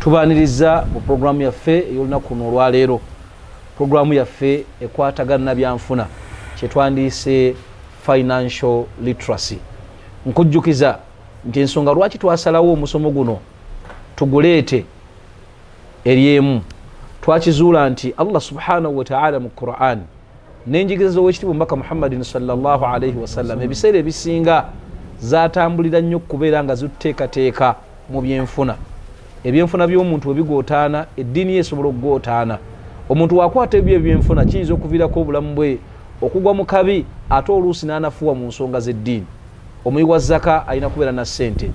tubaniriza mu pulogulaamu yaffe ey'olunaku luno olwaleero pulogulaamu yaffe ekwatagana na byanfuna kyetwandiise financial literacy nkujjukiza nti ensonga lwaki twasalawo omusomo guno tuguleete eri emu twakizuula nti allah subhanahu wataala mu qurani n'enjigiriza z'owekitiibwa omubaka muhammadin salllah alaihi wasallam ebiseera ebisinga zatambulira nnyo okubeera nga zituteekateeka mu byenfuna ebyenfuna by'omuntu webigootaana eddiini ye esobola okugootaana omuntu wakwata ebyo ebyenfuna kiyinza okuviirako obulamu bwe okugwa mu kabi ate oluusi n'anafuwa mu nsonga z'eddiini omuyi wa zaka alina kubeera na ssente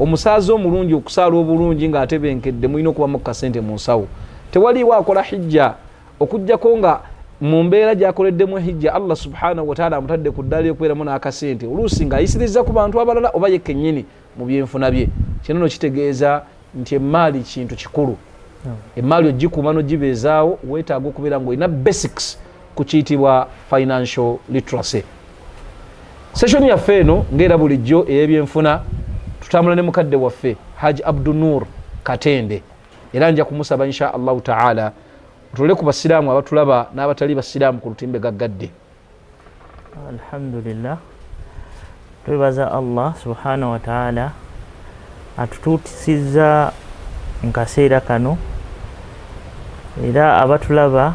omusaaza omulungi okusaala obulungi ng'atebenkedde mulina okubamu ku kasente mu nsawo tewaliiwo akola hijja okujjako nga mu mbeera gyakoleddemu ehijja allah subhanahu wataala amutadde ku ddaala yokubeeramu n'akasente oluusi ng'ayisiriza ku bantu abalala oba yekennyini mu byenfuna bye kino no kitegeeza nti emmaali kintu kikulu hmm. emmaali ogikuuma nogibeezaawo weetaaga okubeera ngaolina basics ku kiyitibwa financial literacy session yaffe eno ngaera bulijjo ey'ebyenfuna tutambula ne mukadde waffe haji abdunur katende era nja kumusaba insha allahu taala otole ku basiraamu abatulaba n'abatali basiraamu ku lutimbe gaggadde alhamdulillah twebaza allah subhanahu wataala atutuutisizza mu kaseera kano era abatulaba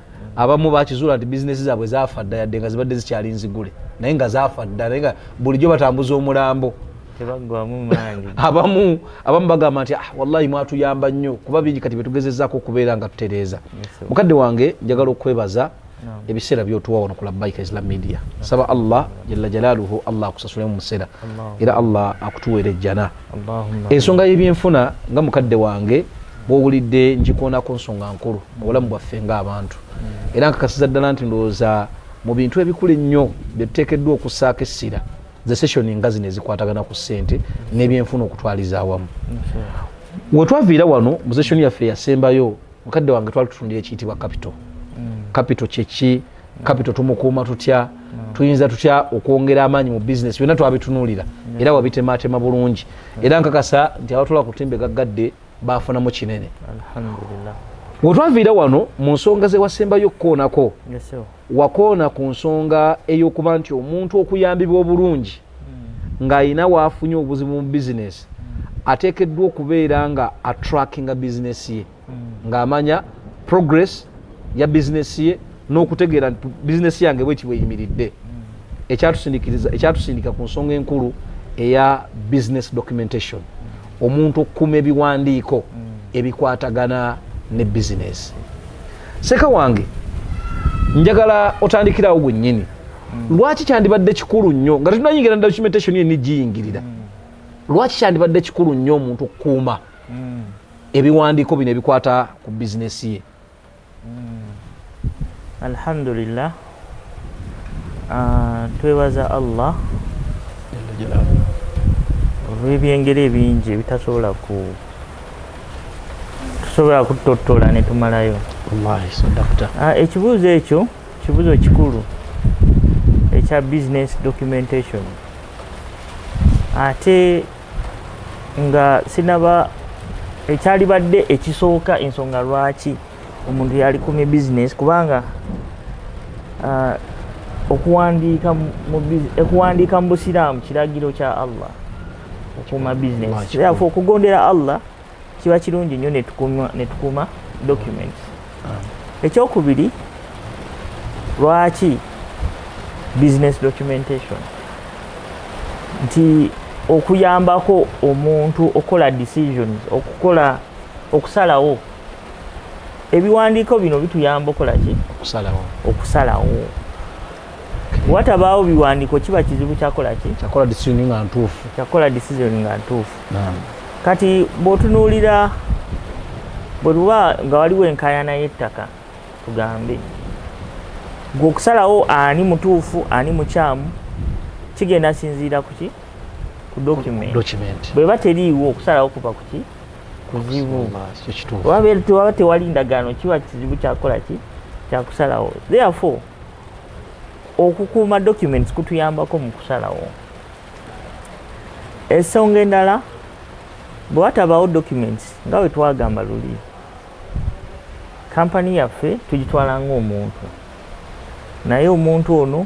abamu bakizuula nti bizinesi zaabwe zaafa dda yadde nga zibadde zikyali nzigule naye nga zaafa dda naye nga bulijjo batambuza omulambo abamu abamu bagamba nti ah, wallahi mwatuyamba nnyo kuba bingi kati byetugezezaako okubeera nga tutereeza mukadde wange njagala okwebaza ebiseera byotuwa wano ku labaika islam media saba allah jalla jalaluhu allah akusasule mu museera era allah akutuweera ejjana ensonga yebyenfuna nga mukadde wange bwowulidde njikoonako nsonga nkulu mu bulamu bwaffe ngaabantu mm. era nkakasiza ddala nti ndowooza mu bintu ebikulu ennyo byetuteekeddwa okusaako essira ze sessioni nga zino ezikwatagana ku ssente n'ebyenfuna okutwaliza awamu wetwaviira wano mu sessioni yaffe yasembayo mukadde wange twali tutundira ekiyitibwa kapito kapito mm. kyeki kapito tumukuuma tutya mm. tuyinza tutya okwongera amaanyi mu bizinesi byonna twabitunuulira mm. era wabitemaatema bulungi era nkakasa nti abatula ku timbe gaggadde baafunamu kinene wetwaviira wano mu nsonga zewasembayo okukoonako wakoona ku nsonga ey'okuba nti omuntu okuyambibwa obulungi ng'alina waafunye obuzibu mu bizinesi ateekeddwa okubeera nga atrackinga bizinesi ye ng'amanya progress ya bizinesi ye n'okutegeera nti bizinesi yange bweki bweyimiridde ekyatusindikiriza ekyatusindika ku nsonga enkulu eya business documentation omuntu okukuma ebiwandiiko ebikwatagana ne bizinesi seka wange njagala otandikirawo gwennyini mm. lwaki kyandibadde kikulu nnyo nga tetunayingira na documentation yenni giyingirira mm. lwaki kyandibadde kikulu nnyo omuntu okukuuma mm. ebiwandiiko bino ebikwata ku bizinesi ye alhamdulillah ah, twebaza allah olwebyengeri ebingi ebitasobola ku tusobola kutottola netumalayo ah, ekibuuzo ekyo kibuzo kikulu ekya business documentation ate nga sinaba ekyalibadde ekisooka ensonga lwaki omuntu yalikumye business kubanga uh, okuwandiika mu busiraamu kiragiro kya allah okuuma business therefore okugondera allah kiba kirungi nnyo netukuuma document ekyokubiri lwaki business documentation nti okuyambako omuntu okukola decisions okukola okusalawo ebiwandiiko bino bituyamba okola ki okusalawo okusalawo watabaawo biwandiiko kiba kizibu kyakola ki kyakola disizoni nga ntuufu kyakola disizoni nga ntuufu kati bw'otunuulira bwe luba nga waliwo enkayana y'ettaka tugambe gwe okusalawo ani mutuufu ani mukyamu kigenda sinziira kuki ku document bweba teriiwo okusalawo kuba kuki kuzibu waba tewali ndagaano kiba kizibu kyakola ki kyakusalawo therefore okukuuma documents kutuyambako mu kusalawo esonga endala bwe watabaawo documents nga bwe twagamba luli kampani yaffe tugitwala ng'omuntu naye omuntu ono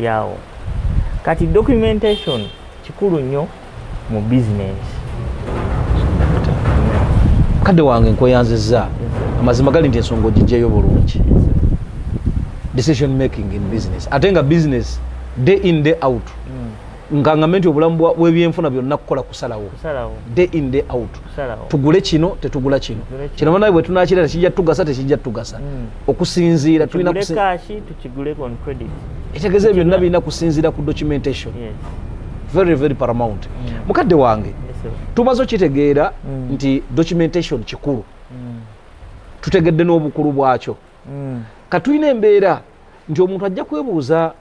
lyawo kati documentation kikulu nnyo mu business kadde wange nkweyanziza amazima gali nti ensonga ogijjayo bulungi decision making in business ate nga business day in day out mm. nga ngambe nti obulamu bwebyenfuna byonna kukola kusalawo day in day out tugule kino tetugula kino kino banaye bwetunakirera kijja tugasa tekijja tugasa hmm. okusinziira etegeza ebyo byonna birina kusinziira ku documentation very very paramount hmm. mukadde wange tumaze okitegeera hmm. nti documentation kikulu tutegedde n'obukulu bwakyo katulina embeera nti omuntu ajja kwebuuza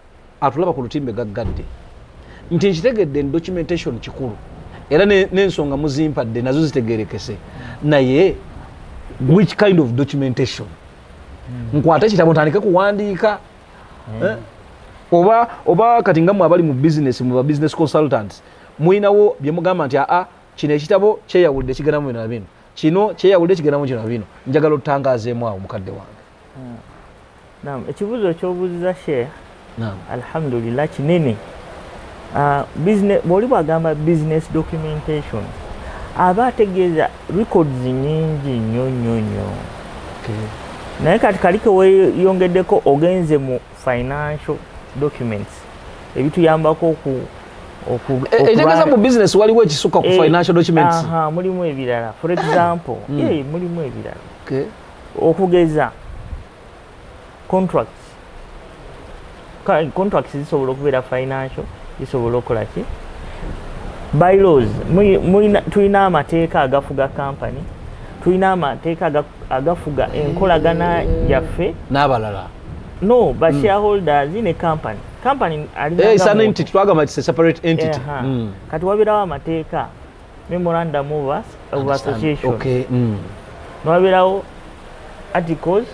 atulaba ku lutimbe gaggadde nti nkitegedde ni documentation kikulu era n'ensonga muzimpadde nazo zitegerekese naye which kind of documentation hmm. nkwata ekitabo ntandike kuwandiika hmm. eh? oba oba kati nga mwe abali mu business mu ba business consultants mulinawo bye mugamba nti aa kino ekitabo kyeyawulidde kigendamu bino na bino kino kyeyawulidde kigendamu kino na bino njagala otutangazeemu awo mukadde wange Ah. Naam, ekibuzo kyobuziza Sheikh. Naam. Alhamdulillah kinene. Ah, business boli bagamba business documentation. Aba ategeeza records nyingi nnyo nnyo nnyo. Okay. Naye kati kaliko weyongeddeko ogenze mu financial documents ebituyambako oku etegeza eh, eh, mu business waliwo ekisuka ku eh, financial documents mulimu ebirala for example hmm. mulimu ebirala okugeza contract contracts zisobola okubeera financial zisobola okukola ki bylaws tulina amateeka agafuga company tulina amateeka agafuga enkolagana yaffe n'abalala no ba hmm. shareholders ne company company eh, hmm. kati wabeerawo amateeka memorandum of association okay. mm. nwabeerawo articles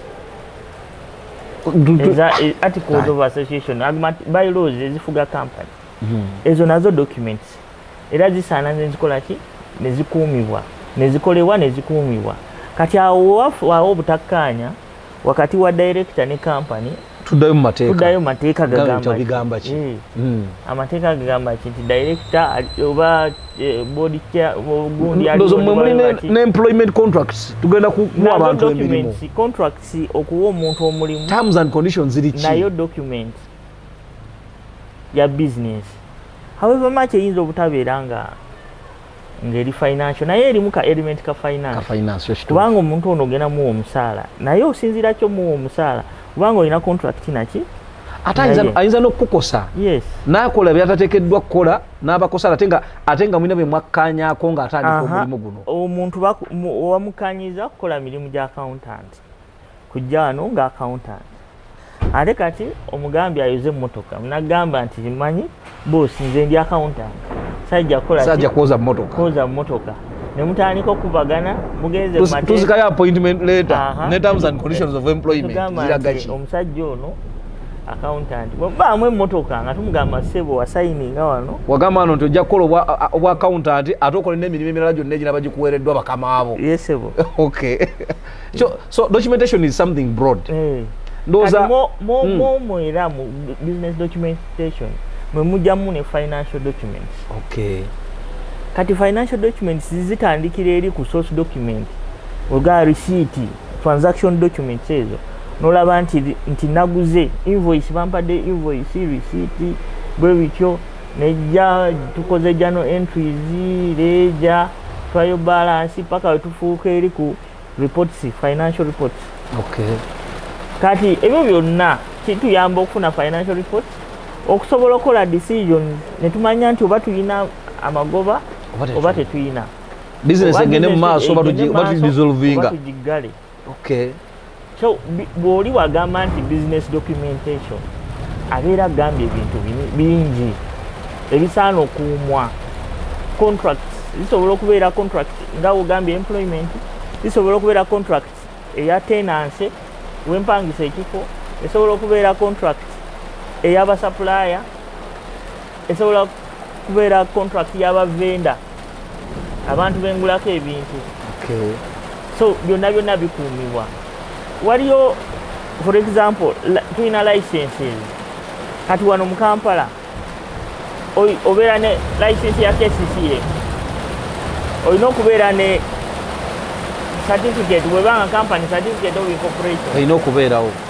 e, articles of association by laws ezifuga company mm. ezo nazo documents era zisaana nezikola ki nezikuumibwa nezikolebwa nezikuumibwa kati awo wawo obutakkaanya wakati wa director ne company tuddayo mu mateeka tuddayo mateeka gagamba bigamba ki eh. hmm. amateeka gagamba ki nti director oba eh, body care gundi ya ndozo mwe muli ne employment contracts tugenda ku mu abantu emirimu contracts okuwa omuntu omulimu terms and conditions ziri ki nayo document ya business however much eyinza obutabeera nga ngeri financial naye erimu ka element ka finance kubanga omuntu ono ogenda muwa omusaala naye osinziira ki omuwa omusaala kubanga olina contract naki ate ayinza nokukukosa nakola byatatekeddwa kukola nabakosa ate nga ate nga mulina bemwakkanyako nga atandika omulimu guno omuntu wamukanyiza kukola mirimu gya accountant kujja wano nga accountant ate kati omugambi ayoze emmotoka nagamba nti manyi bos nze ndi accountant sajja kukolasaja kwoza mmotoka kwoza mmotoka nemutandika okuvagana mugenzetuzikayo appointment letter ne terms and conditions of employment ziragaki omusajja ono accountant bwebaamu emmotoka nga tumugamba sebo wasayininga wano wagamba wano nti ojja kukola obwa accountant ate okole n'emirimu emirala gyonna egiraba gikuweereddwa bakamaabo yesebo okay so, so documentation is something broad mm. ndoza mo mo mm. mo mo era mu business documentation mwe mujamu ne financial documents okay kati financial documents zitandikira eri ku source document oga receipt transaction documents ezo nolaba nti nti naguze invoice bampadde invoice receipt bwe bityo nejja tukoze jano entries leja trial balance paka wetufuuka eri ku reports financial reports okay kati ebyo byonna kituyamba okufuna financial report okusobola okukola decision netumanya nti oba tulina amagoba oba tetuyina business egende mu maaso oba tugisolvinga okay so bwoli wagamba nti business documentation abeera agambye ebintu bingi ebisaana okuumwa contract zisobola okubeera contract nga ogambye employment zisobola okubeera contract eya tenancy wempangisa ekifo esobola okubeera contract eyabasapulaya esobola kubeera contract yaba venda abantu bengulako ebintu okay. so byonna byonna bikuumibwa waliyo for example tulina licenses kati wano mu kampala obeera ne license ya kcca olina okubeera ne certificate webanga company certificate of incorporation olina okubeerawo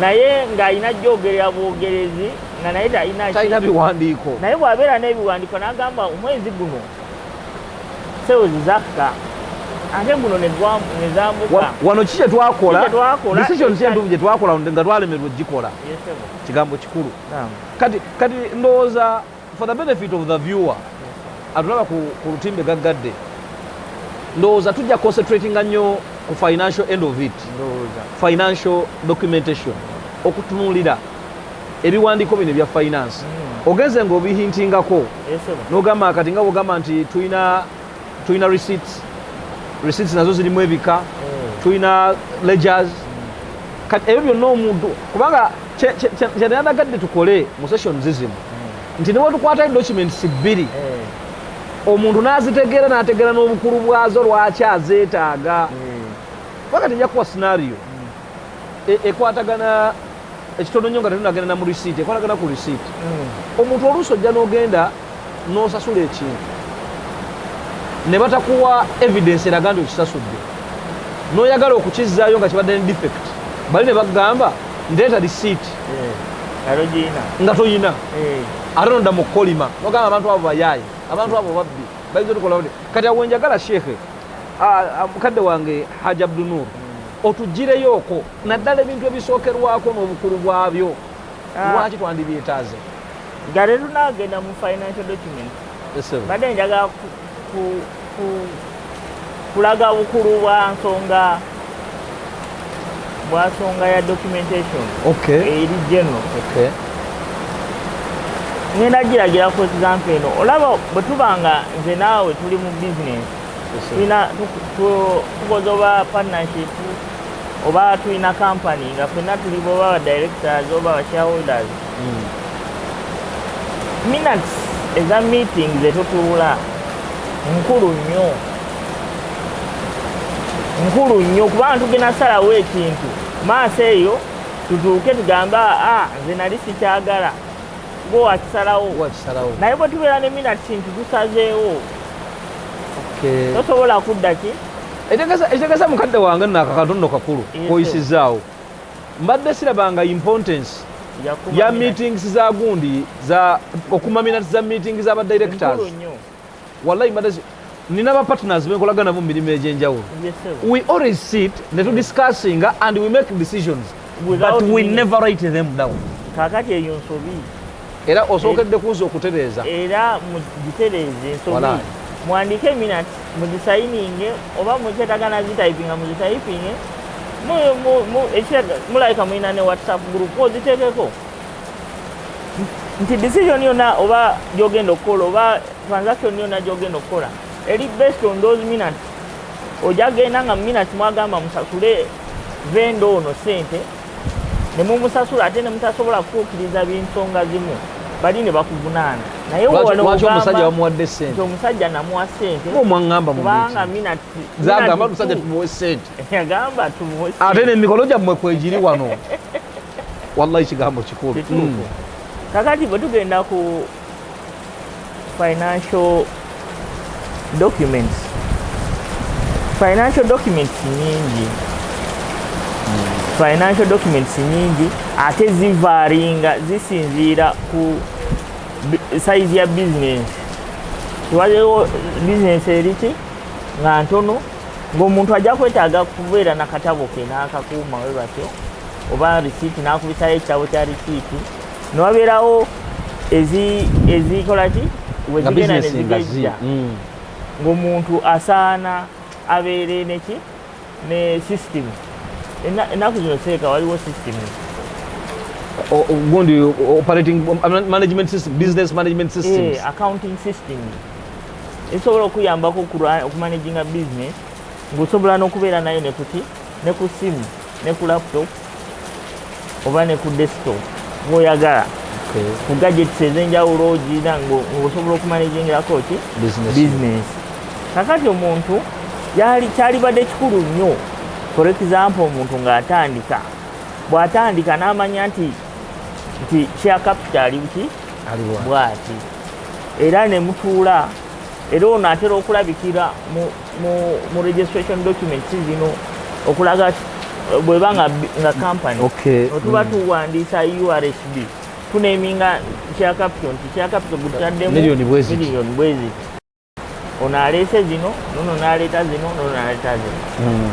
naye ng'alina jjogerera bwogerezi nga naye talina biwandiiko naye bw'abeera n'ebiwandiiko n'agamba omwezi guno sewezi zakka ate guno nezambuka wano ki kyetwakola decisions entuufu gyetwakola nga twalemerwa okugikola kigambo kikulu kati ndowooza For the benefit of the viewer atulaba ku lutimbe gaggadde ndowooza tujja concentratinga nnyo ku financial end of it financial documentation okutunulira ebiwandiiko bino ebya finance hmm. ogenze nga obihintingako nogamba kati nga bwogamba nti tulina tulina receipts receipts nazo zirimu ebika mm. tulina ledgers kati ebyo byonna omuntu kubanga kyenanagadde tukole mu session zizimu mm. nti newetukwatayo documents bbiri mm. omuntu nazitegeera nategeera n'obukulu bwazo lwaki azeetaaga kubanga tejja kuwa scenario e, ekwatagana ekitono nyo nga tetunagenda na mu receipt ekwatagana ku receipt mm. omuntu oluusi ojja n'ogenda n'osasula ekintu ne batakuwa evidence eraga nti okisasudde n'oyagala okukizzaayo nga kibadde ne defect bali ne bagamba ndeeta receipt eh, nga toyina eh. ate nodda mu kolima nogamba abantu abo bayaaye abantu abo babbi bayinza otukola kati awo wenjagala sheekhe mukadde wange haj abdunur hmm. otugireyooko naddala ebintu ebisookerwako n'obukulu bwabyo ah. lwaki twandibyetaaze nga tetunagenda mu financial document badde njagala kulaga bukulu bwa nsonga bwasonga ya documentation eri general ngenda giragira for example eno olaba bwe tuba nga nze naawe tuli mu business tulina tukoze oba partnership oba tulina company nga fenna tuli boba ba directors oba ba shareholders hmm. minutes eza meeting zetutuula nkulu nnyo nkulu nnyo kubanga tugenda salawo ekintu maaso eyo tutuuke tugambe a ah, nze nali sikyagala gwe wakisalawo naye bwe tubeera ne minutes kintu tusazeewo tosobola kudda ki ekitegeza mukadde wange nakakantu nno kakulu koyisizaawo mbadde sirabanga importance ya meetings za gundi za okumamina za meetings za directors wallahi mbadde nina ba partners benkolaga nabo mu mirimu egyenjawulo we always sit ne tu discussing and we make decisions but we never write them down kakati eyo nsobi era osookedde kunza okutereeza era mugitereeze ensobi muwandiike eminat mugisayininge oba mukyetaga nazitayipinga muzitayipinge mulabika mulina ne whatsapp group ozitekeko nti decision yona oba gyogenda okukola oba transaction yona gyogenda okukola eri based on those minutes ojagenda nga minutes mwagamba musasule venda ono sente ne mumusasula ate ne mutasobola kutuukiriza binsonga zimu bali ne bakuvunaana naye wewalewaki omusajja wamuwadde sente omusajja namuwa sente omwangamba kubanga minazagamba omusajja tumuwe sente yagamba tumuwe ate nemikolo gyammwe kwegiri wano wallahi kigambo kikulu mm. kakati bwe tugenda ku financial documents financial documents nyingi financial documents nyingi ate zivaringa zisinziira ku size ya business waliwo business eriki nga ntono ng'omuntu ajja kwetaaga kubeera na katabo ke n'akakuuma we batyo oba risiiti n'akubisayo ekitabo kya risiiti newabeerawo ezikola ki wezigenda nezigejja mm. ng'omuntu asaana abeere neki ne system ennaku zino seeka waliwo system gundi operating um, management system business management eh, systems accounting system esobola okuyambako okumanaginga business ng'osobola n'okubeera nayo nekuti ne ku simu ne ku laptop oba ne ku desktop gwoyagala ku gadgets ezenjawulo ogirina ngaosobola okumanejingirako ki business kakati omuntu kyalibadde kikulu nnyo for example omuntu ng'atandika bw'atandika n'amanya nti nti share capital ali buki bwati era ne mutuula era ono atera okulabikira mu mu registration documents zino okulaga bweba nga nga company okay. otuba mm. tuwandiisa ursb tuneminga kya capital nti kya capital gututaddemu million bweziti ono aleese zino nono naleeta zino nono naleeta zino mm.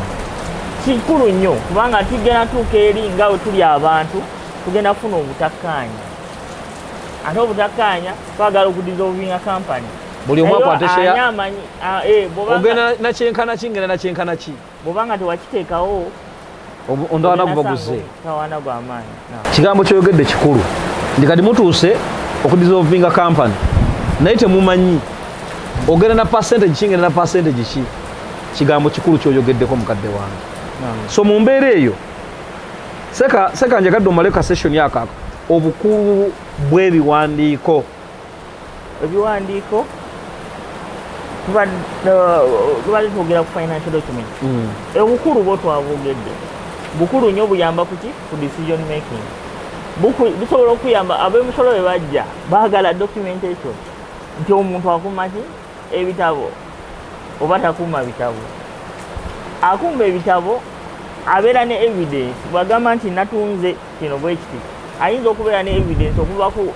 kikulu nnyo kubanga tugenda tuuka eri nga we tuli abantu tugenda kufuna obutakkaanya ate obutakkaanya twagala okudisolvinga company buli omu akwatesheya amanyi Ah, eh, ogenda nakyenkana ki ngenda nakyenkana ki bwobanga tewakiteekawo ondawana guba guze kigambo kyoyogedde kikulu nti kati mutuuse okudisolvinga kampany naye temumanyi ogenda na percentage ki ngenda na percentage ki kigambo kikulu kyoyogeddeko mukadde wange so mu mbeera eyo seka njagadde omale ka session akako obukulu bw'ebiwandiiko ebiwandiiko tubadde twogera ku financial document mm. obukulu bwo twabwogedde bukulu nnyo buyamba kuki ku decision making busobola okuyamba abemusolo be bajja baagala documentation nti omuntu akuuma ki ebitabo oba takuuma bitabo akuuma ebitabo abeera ne evidence bwagamba nti natunze kino bwekiti ayinza okubeera ne evidence okuva ku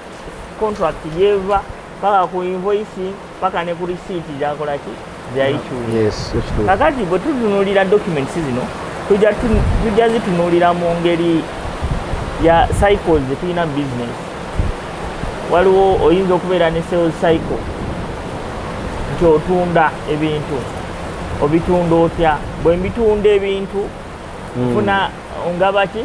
contract yeva paka ku invoice paka ne ku receipt yakola ki yayikyula yes kakati bwe tutunulira documents zino tujja tujja zitunulira mu ngeri ya cycles tulina business waliwo oyinza okubeera ne sales cycle nti otunda ebintu obitunda otya bwe mbitunda ebintu hmm. nfuna ngabaki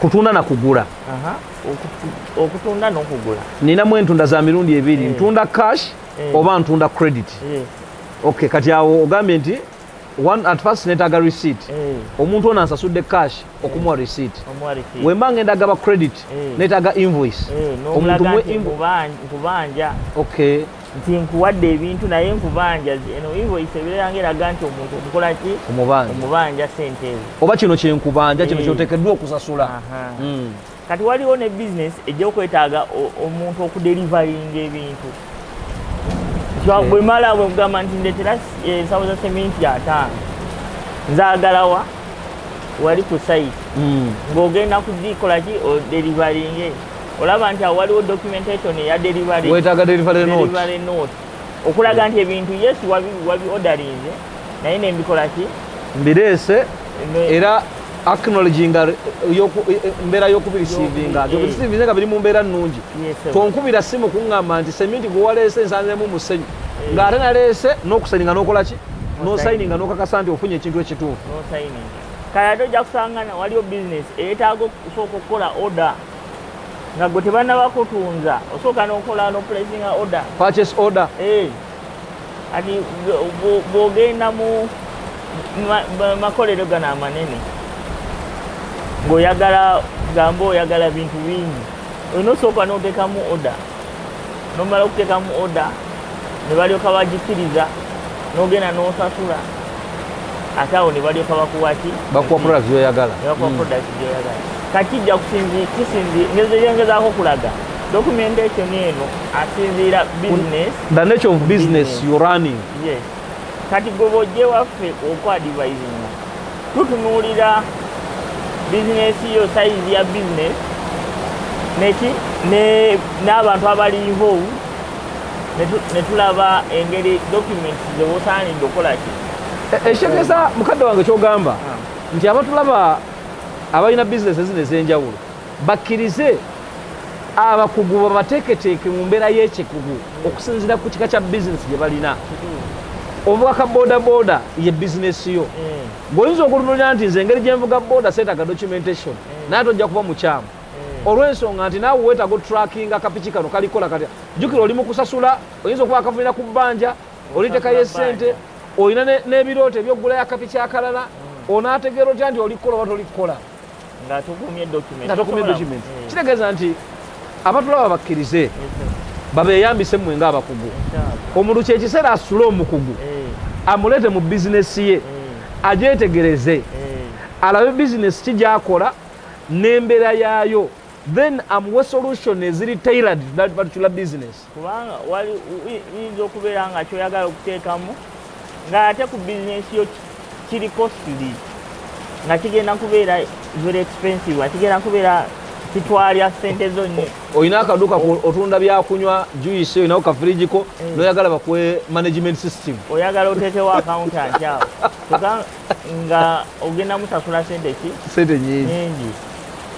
kutunda na kugula okutunda nokugula ninamu entunda za mirundi ebiri eh. ntunda cash eh. oba ntunda credit eh. ok kati awo ogambye nti at first netaga receipt omuntu ono ansasudde cash okumuwa receipt wemba ngenda gaba credit netaga invoice omuntu mwe invoice ok nti nkuwadde ebintu naye nkubanja eno invoice ebeera nga eraga nti omuntu omukola ki omubanja sente ezo oba kino kyenkubanja kino eh. kyotekeddwa okusasula hmm. kati waliwo ne bizinesi ejja okwetaaga omuntu okudelivaringa ebintu eh. bwemala bwekugamba nti ndetera ensawo eh, za seminti ataano nzagalawa wali ku sayiti hmm. ng'ogenda kugikolaki odelivaringe olaba nti awo waliwo documentation eya delivery wetaaga delivery note delivery note okulaga nti ebintu yes wabi wabi ordering naye ne mbikola ki mbirese era acknowledging yoku e, e, mbera yoku receiving ajo receiving nga biri mu mbera nungi tonkubira simu kungamba nti sementi go walese nsanze mu musenyi eh. nga atana lese no kusaninga no kola ki no signing no kakasa nti ofunye ekintu ekitufu no signing kaya doja kusangana waliyo business etago kusoko kola order nga gwe tebanaba kutunza osooka nokola no placing order purchase order eh ati bwogenda mu makolero gano amanene ng'oyagala gamba oyagala bintu bingi olina osooka n'otekamu order nomala okuteekamu oda ne balyoka bagikiriza nogenda nosasula ate awo ne balyoka bakuwaki bakuwa product gyoyagala bakuwa mm. product gyoyagala kati jja kusinzi kisinzi ngezeyengezaako okulaga documentation eno asinziira business the nature of business, business. you running yes kati gwe bojja ewaffe okwadivaizinga tutunuulira bizinesi yo sayizi ya bizinesi neki n'abantu abali involve ne tulaba engeri document zewosaanidde okukolaki ekitegeeza eh, eh, mukadde wange kyogamba ah. nti abatulaba abalina bizinesi ezino ez'enjawulo bakkirize abakugu babateeketeeke mu mbeera y'ekikugu okusinziira ku kika kya bizinesi gye balina ovuga ka bodaboda ye bizinesi yo mm. gweoyinza okulunulira nti nze engeri gyenvuga boda seetaga documentation mm. naye tojja kuba mukyamu mm. olw'ensonga nti naawe weetaga otrackinga kapiki kano kalikola kati jjukira oli mu kusasula oyinza okuba akavulira ku bbanja olitekayo esente olina n'ebirooto ebyoggulayo akapiki akalala onaategeera otya nti oli kukola oba toli kukola nga tugumye document nga tugumye document eh. kitegeeza nti abatulaba bakkirize eh, eh. babeyambise mmwe nga abakugu omuntu kyekiseera asule omukugu amuleete mu bizinesi ye agyetegereze alabe bizinesi ki gyakola n'embeera yaayo then amuwe solution eziri tailored that particular business kubanga iyinza okubeera nga kyoyagala okuteekamu nga ate ku bizinesi yo kiri costly nga kigenda kubeera very expensive nga kigenda kubeera kitwalya sente zonna olina akaduuka otunda byakunywa juice olinawo kafirijiko eh. noyagala bakuwe management system oyagala oteekewo accountant awo nga ogenda musasula sente ki sente nyingi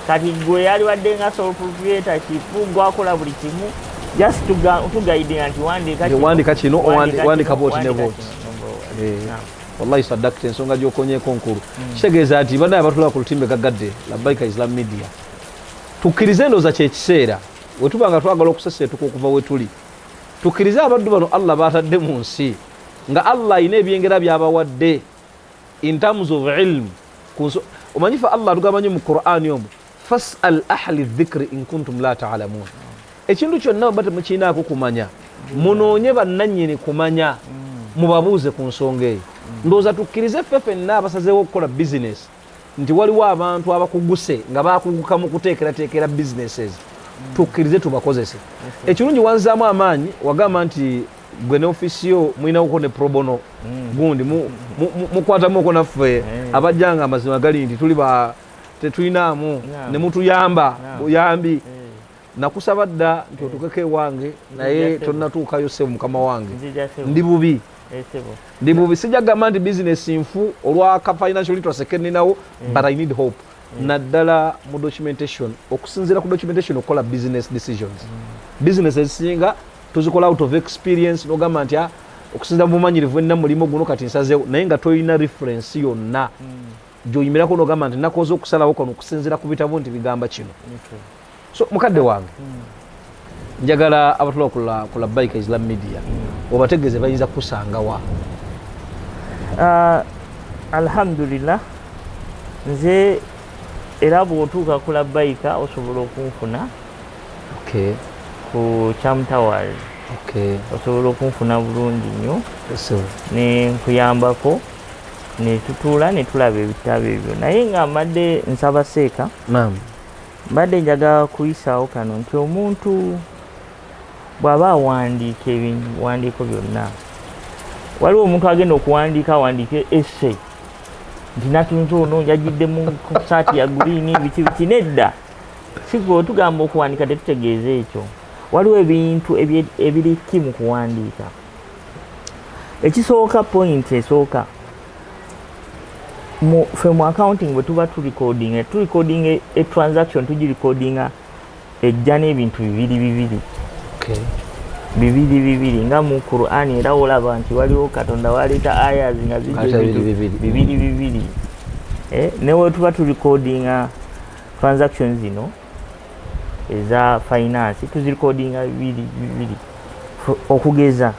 kati gwe yali wadde nga sole proprietor kifu gwakola buli kimu just tugaidinga nti wandika kino wandika boti ne boti wallahi sadakta ensonga gyokonyeko nkulu hmm. kitegeeza nti banaye batulaba ku lutimbe gagadde labaika islam media tukkirize endooza kyekiseera wetuba nga twagala okuseseetuka okuva wetuli tukkirize abaddu bano allah batadde mu nsi nga Allah alina ebyengera byabawadde in terms of ilm omanyi fe Allah atugamba nyo mu Qur'ani omu fasal ahli dhikri in kuntum la ta'lamun ekintu kyonna bwe temukirinaako kumanya munoonye bannannyini kumanya mubabuuze ku nsonga eyo ndowooza tukkirize ffe fenna abasazeewo okukola bizinesi nti waliwo abantu abakuguse nga bakuguka mu kuteekerateekera businesses mm. tukkirize tubakozese mm-hmm. ekirungi wanzaamu amaanyi wagamba nti gwe ne ofisi yo mulinawoko ne probono mm. gundi mukwatamuko naffe eh. abajjanga amazima gali nti tuli ba tetulinaamu ne mutuyamba buyambi eh. nakusaba dda nti otukeko ewange naye tonatuukayo sebo mukama wange ndi bubi eh, ndi bubi sijja gamba nti bizinesi nfu olwaka financial literacy keninawo eh. but i need hope eh. naddala mu documentation okusinziira ku documentation okukola business decisions mm. business ezisinga tuzikola out of experience nogamba nti ah, okusinzira mu bumanyirivu enna mulimu guno kati nsazewo naye nga tolina reference yonna mm. gyoyimirako nogamba nti nakoze okusalawo kono okusinziira ku bitabu nti bigamba kino so mukadde wange njagala abatula ku labaika islam media obategeeze bayinza kukusangawa uh, alhamdulillah nze era bwotuuka ku labaika osobola okunfuna ku chamtowers osobola okunfuna bulungi nnyo nenkuyambako netutuula netulaba ebitabo ebyo naye nga mbadde nsaba seeka mbadde njagala kuyisaawo kano nti omuntu bw'aba awandiika ebiwandiiko byonna waliwo omuntu agenda okuwandiika awandiike ese nti natunze ono yajidde mu saati ya guliini biki biki nedda sigwe otugamba okuwandiika tetutegeeza ekyo waliwo ebintu ebiriki mu kuwandiika ekisooka pointi esooka mu fe mu accounting bwe tuba tu recording e tu recording e, e transaction tuji recording a ejja n'ebintu bibiri bibiri okay. bibiri bibiri nga mu Qur'an era olaba nti waliwo Katonda waleeta ayas nga zija bibiri bibiri eh, ne we tuba tu recording a transaction zino eza finance tuzirikodinga bibiri bibiri okugeza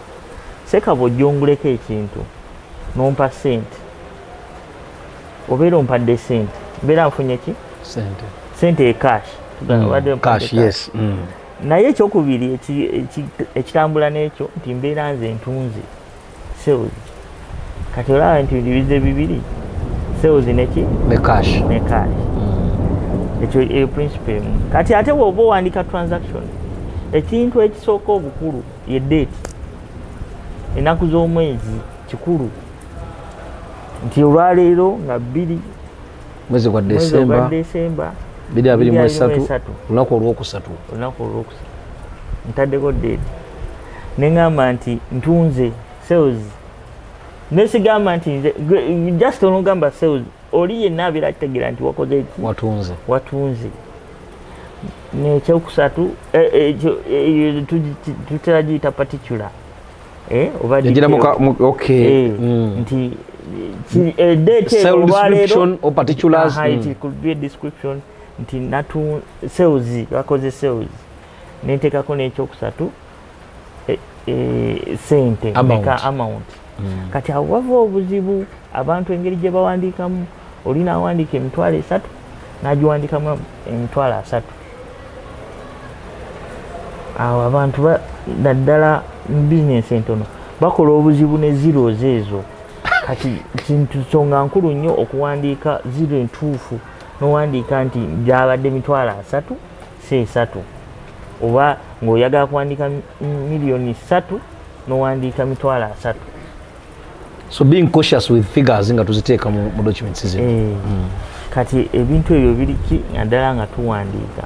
sekava ojonguleko ekintu nompa sente obeera ompadde sente mbeera nfunye ki sente ecash mm, mm. naye ekyokubiri ekitambula n'ekyo nti mbeera nze ntunze sales kati olaba nti bidibize bibiri sales neki ne cash ne cash mm. ekyo e principle emu kati ate bwoba owandika transaction ekintu ekisooka obukulu ye date enaku z'omwezi kikulu nti olwaleero nga bbiri mwezi gwa desemba biri abiri mu esatu olunaku olwokusatu olunaku olwokusatu ntaddeko deedi neŋamba nti ntunze sales nesigamba nti nze just onogamba sales oli yenna abeera akitegera nti wakoze ki watunze watunze nekyokusatu eh, eh, eh, tutera giyita paticula eh, yagira muka okay eh, mm. nti eh, date olwaleero or particulars mm. it could be a description nti natu sales bakoze sales nentekako n'ekyokusatu e, e, sente amount, amount. Mm. kati awo wava obuzibu abantu engeri gye bawandiikamu oli nawandiika emitwalo esatu nagiwandikamu emitwalo asatu awo abantu naddala mu bizinesi entono bakola obuzibu ne zeros ezo kati kintu nsonga nkulu nnyo okuwandiika ziro entuufu nowandiika nti gyabadde emitwalo asatu si esatu oba ng'oyagala kuwandiika miliyoni satu nowandiika mitwalo asatu so being cautious with figures nga tuziteeka mu, mu documents zino hey. Eh, mm. kati ebintu ebyo biriki naddala nga tuwandiika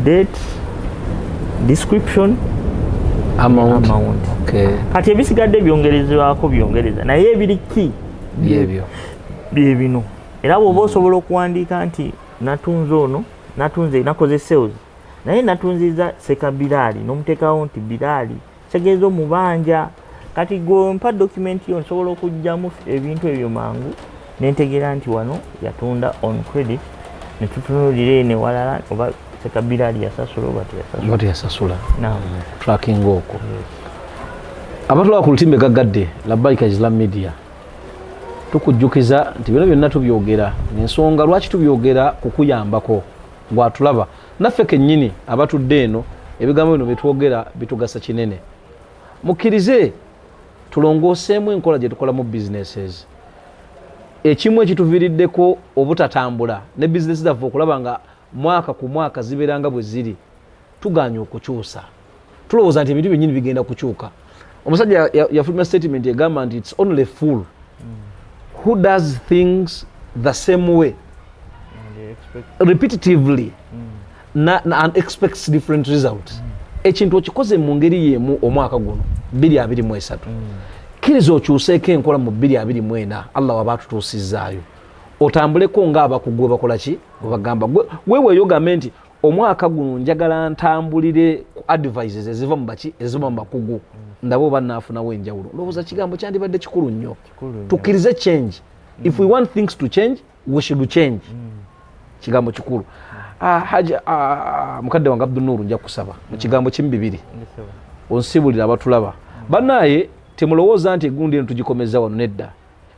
date description amount, amount. Okay. kati ebisigadde byongerezebwako byongereza naye ebiri ki byebyo byebino era bwoba osobola okuwandiika nti natunze ono natunze nakoze sales naye natunziza seka biraali nomutekawo nti biraali kitegeeza omubanja kati gwe mpa dokumenti yo nsobola okugyamu ebintu ebyo mangu nentegeera nti wano yatunda on credit netutunulira eno ewalala oba sekabira ali yasasula oba teyasasula tracking okwo abatulaba ku lutimbe gaggadde labaika islam media tukujjukiza nti bino byonna tubyogera nensonga lwaki tubyogera kukuyambako gwatulaba naffe kennyini abatudde eno ebigambo bino byetwogera bitugasa kinene mukkirize tulongooseemu enkola gye tukolamu businesses ekimu ekituviiriddeko obutatambula ne bizinesi zaffe okulaba nga mwaka ku mwaka zibeeranga bwe ziri tugaanye okukyusa tulowooza nti ebintu byenyini bigenda kukyuka omusajja yafulumya statement egamba nti its only fool mm. who does things the same way repetitively mm. and expects different result mm. ekintu okikoze mu ngeri yemu omwaka guno 223 kkiriza okyuseeko enkola mu 224 allah waba atutuusizaayo otambuleko ng'abakugwe bakola ki webagamba gwe weweeyo gambe nti omwaka guno njagala ntambulire ku advices eziva mu baki eziva mu bakugu ndaba oba naafunawo enjawulo lowooza kigambo kyandibadde kikulu nnyo tukkirize change if we want things to change we should change kigambo kikulu ah, haja ah, mukadde wange abdunuuru nja kusaba mu kigambo kimu bibiri onsibulira abatulaba banaye temulowooza nti egundi eno tugikomeza wano nedda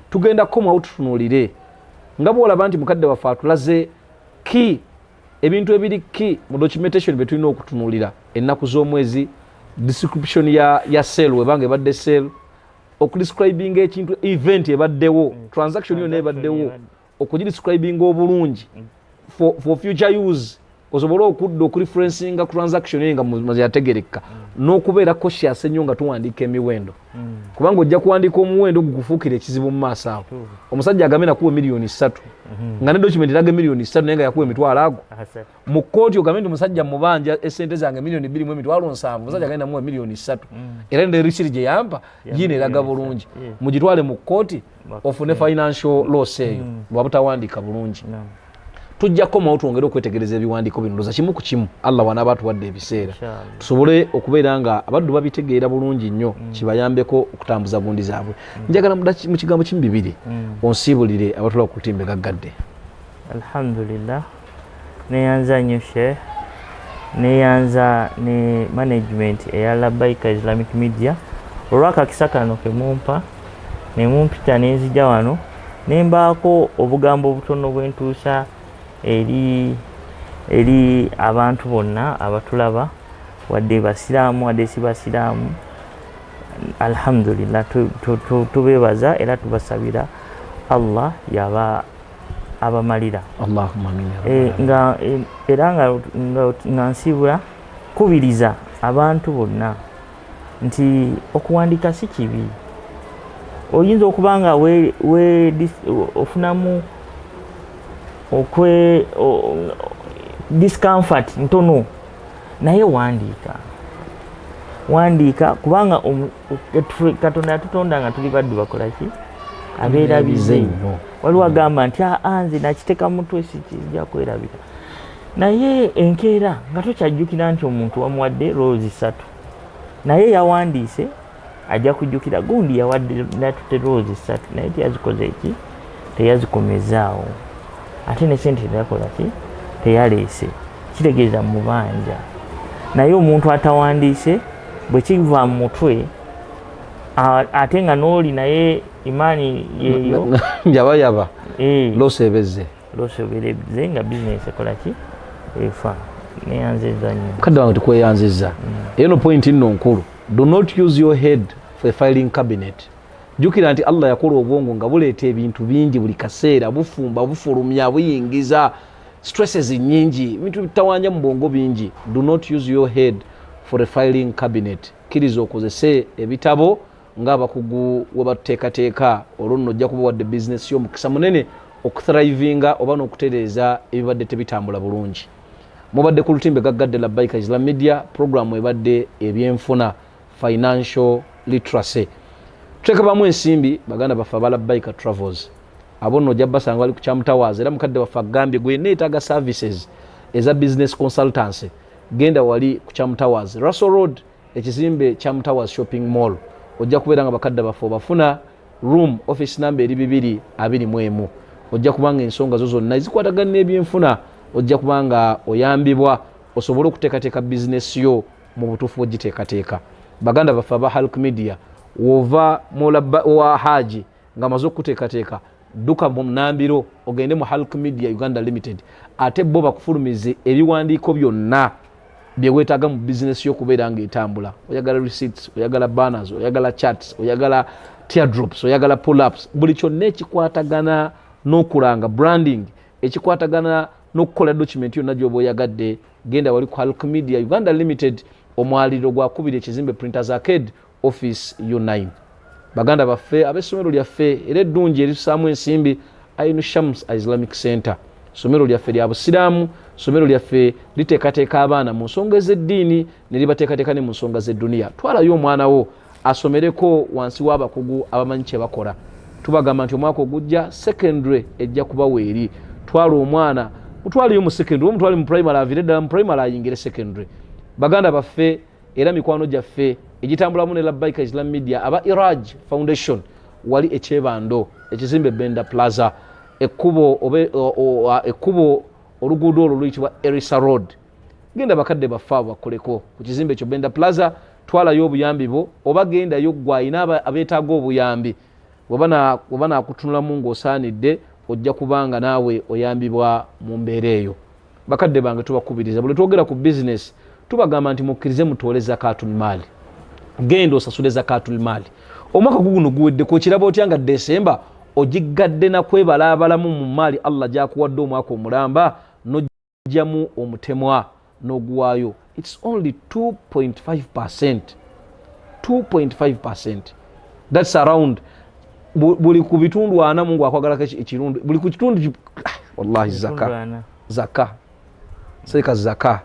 tugenda kukomawo tutunulire nga bwolaba nti mukadde waffe atulaze ki ebintu ebiri ki mu documentation byetulina okutunulira ennaku z'omwezi description ya, ya sel webanga ebadde sel okudescribinga ekintu event ebaddewo mm. transaction yona ebaddewo okugidescribinga obulungi mm. for, for future use osobole okudda okureferencinga transaction eyo nga yategerekka mm. n'okubeera koshias ennyo nga tuwandiika emiwendo hmm. kubanga ojja kuwandiika omuwendo gukufuukira ekizibu mu maaso awo omusajja agambe nakuwa emiliyoni ssatu hmm. nga ne dokimenti eraga emiliyoni ssatu naye nga yakuwa emitwalo ago mu kkooti ogambe nti omusajja mubanja esente zange emiliyoni bbiri mu emitwalo nsanvu omusajja agende namuwa emiliyoni ssatu hmm. era ne risiri gye yampa yiina eraga bulungi mugitwale mu kkooti yeah. ofune financial loss eyo mm. lwabutawandiika bulungi tujja kukomawo twongere okwetegereza ebiwandiiko bino ndoza kimu ku kimu allah wanaaba atuwadde ebiseera tusobole okubeera nga abaddu babitegeera bulungi nnyo mm. kibayambeko okutambuza gundi zaabwe mm. njagala mu kigambo kimu bibiri onsiibulire abatula ku lutimbe gaggadde alhamdulillah Neyanza nnyo Sheikh, neyanza ne management eya Labaika Islamic Media olw'akakisa kano ke mumpa ne mumpita ne nzija wano ne mbaako obugambo obutono bwe ntuusa eri eri abantu bonna abatulaba wadde basiraamu wadde si basiraamu alhamdulillah tubeebaza era tubasabira allah yaba abamalira eh, nga eh, era nga nsiibula kubiriza abantu bonna nti okuwandiika si kibi oyinza okuba nga ofunamu okwe discomfort ntono naye wandiika wandiika kubanga katonda yatutonda nga tuli baddu bakolaki abeera bize nnyo waliwo agamba nti aa ah, ah, nze nakiteka mutwe sikija kwerabika naye enkeera nga tokyajjukira nti omuntu wamuwadde roozi ssatu naye yawandiise ajja kujjukira gundi yawadde natutte roozi ssatu naye teyazikoze eki teyazikomeza awo ate ne sente teyakola ki teyaleese kitegeeza mubanja naye omuntu atawandiise bwe kiva mu mutwe ate nga n'oli naye imaani yeyo njabayaba eh. losebeze losoberebze nga bizinesi ekola ki efa neyanziza nyo kadde wange tukweyanziza mm. eno point nno nkulu do not use your head for a filing cabinet jukira nti allah yakola obwongo nga buleeta ebintu bingi buli kaseera bufumba bufulumya buyingiza stresses nyingi ebintu bitawanja mu bwongo bingi do not use your head for a filing cabinet kkiriza okozese ebitabo ngaabakugu webatuteekateeka olwo nno ojja kuba wadde bizinesi yo omukisa munene okuthrivinga oba n'okutereeza ebibadde tebitambula bulungi mubadde ku lutimbe gaggadde labbaika islam media puroguramu ebadde ebyenfuna financial literacy tuteekabamu ensimbi baganda baffe abala biker travels abo nno ojja basanga bali ku kyamutawaaza era mukadde waffe agambye gwe neetaaga services eza business consultancy genda wali ku kyamutawaazi russell road ekizimbe kyamutawaazi shopping mall ojja kubeera nga bakadde baffe obafuna room office number eri bibiri abiri mu emu ojja kubanga ensonga zo zonna ezikwatagana n'ebyenfuna ojja kubanga oyambibwa osobole okuteekateeka bizinesi yo mu butuufu bwegiteekateeka baganda baffe aba halk media wova wa haji ngaamaze okukuteekateeka dduka mu nambiro ogende mu halk media uganda limited ate bo bakufulumize ebiwandiiko byonna byewetaaga mu bizinesi yokubeera nga etambula oyagala receipts oyagala banners oyagala charts oyagala teardrops oyagala pullups buli kyonna ekikwatagana n'okulanga branding ekikwatagana n'okukola document yonna gyoba oyagadde genda wali ku halk media uganda limited omwaliro gwakubiri ekizimbe printers arcade office u9 baganda baffe ab'essomero lyaffe era eddungi eritusaamu ensimbi ainu shams islamic center somero lyaffe lya busiraamu somero lyaffe liteekateeka abaana mu nsonga ez'eddiini ne libateekateeka ne mu nsonga z'edduniya twalayo omwana wo asomereko wansi w'abakugu abamanyi kye bakola tubagamba nti omwaka ogujja secondary ejja kuba weeri twala omwana mutwaleyo mu secondary omutwale mu primary avire eddala mu primary ayingire secondary baganda baffe era mikwano gyaffe egitambulamu ne labaika islam media aba iraj foundation wali ekyebando ekizimbe benda plaza ekkubo oluguudo olwo luyitibwa erisa road genda bakadde baffe abo bakoleko ku kizimbe ekyo benda plaza twalayo obuyambi bwo oba gendayo gwe alina abeetaaga obuyambi weba nakutunulamu ngaosaanidde ojja kubanga naawe oyambibwa mu mbeera eyo bakadde bange tubakubiriza buli twogera ku bizinesi tubagamba nti mukkirize mutoole zakatun maali genda osasule zakatun maali omwaka guguno guweddeko okiraba otya nga desemba ogiggadde nakwebalaabalamu mu maali allah gyakuwadde omwaka omulamba jamu omutemwa noguwayo its only 2.5 percent 2.5 percent thats around buli ku bitundu ana mungu akwagalako ekirundu buli ku kitundu ah, wallahi zaka zaka seeka zaka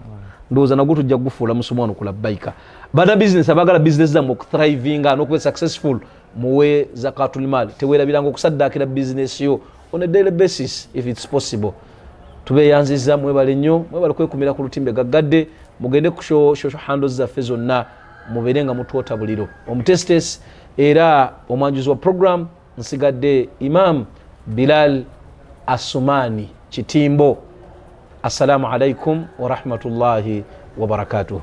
ndowooza nagwo tujja kugufuula musomo wano kulabaika bana bizinesi abagala bizinesi zammwe okuthrivinga nokuba successful muwe zakatulmaali tewerabiranga okusaddaakira bizinesi yo on a daily basis if it's possible tubeyanziza mwebale nnyo mwebale kwekumira ku lutimbe gaggadde mugende ku shosho hando zaffe zonna mubeere nga mutwota buliro omutestes era omwanjuzi wa program nsigadde imam bilal asumani kitimbo assalamu alaikum warahmatullahi wabarakatuhu